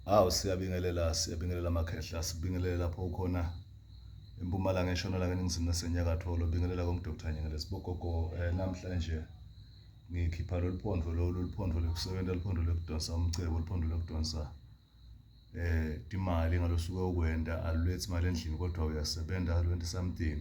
Hawu siyabingelela siyabingelela makhehla sibingelele lapho ukhona empumalanga eshonalanga eningizimu nasenyakatho lobingelela komdokotha nyengele sibogogo eh, namhlanje ngikhipha lolu phondlo lolu luphondo lokusebenza luphondo lokudonsa umcebo luphondo lokudonsa eh imali ngalosuke ukwenda alulethi imali endlini kodwa uyasebenza alwenti something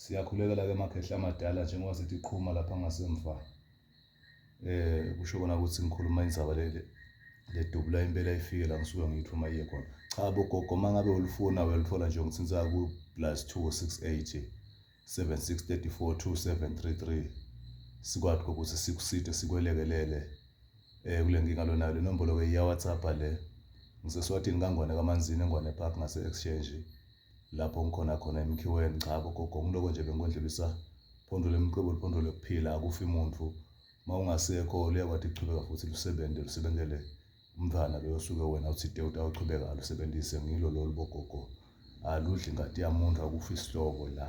Siyakhulekela-ke amakhehla amadala njengoba sithi qhuma lapha ngasemva. Eh kusho kona ukuthi ngikhuluma indzaba leli ledubula impela ifike la ngisuke ngithi uma iye khona. Cha bogogo mangabe ulifuna uyalithola nje ngithinta ku plus 268 76342733 sikwazi ukuthi sikuside sikwelekelele eh kule nkinga lonayo le nombolo ke iya WhatsApp le ngiseswatini kangwane kamanzini engwane park ngase exchange lapho ngikhona khona emkhiweni cha bogogo ngiloko nje bengikondlulisa phondo lemqobo liphondo lokuphila akufi muntu uma ungasekho liyakwathi kuchubeka futhi lusebenze lusebenzele umntwana loyo osuke wena uthide utawuchubeka alusebenzise ngilo lolu bogogo aludli ingadi yamuntu akufi isihlobo la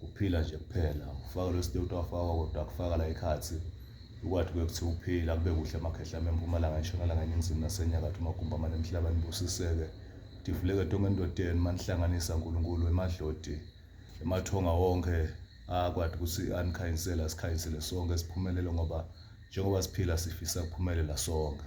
Ukuphila nje kuphela ufaka lo state wafakwa kodwa kufaka la ekhathi ukwathi kuyokuthiwa ukuphila kube kuhle amakhehla empumalanga entshonalanga eningizimu nasenyakatho amagumbi amane emhlaba nibusiseke divuleke tonke endodeni manihlanganisa uNkulunkulu emadlodi emathonga wonke akwathi ukuthi anikhanyisele asikhanyisele sonke siphumelele ngoba njengoba siphila sifisa kuphumelela sonke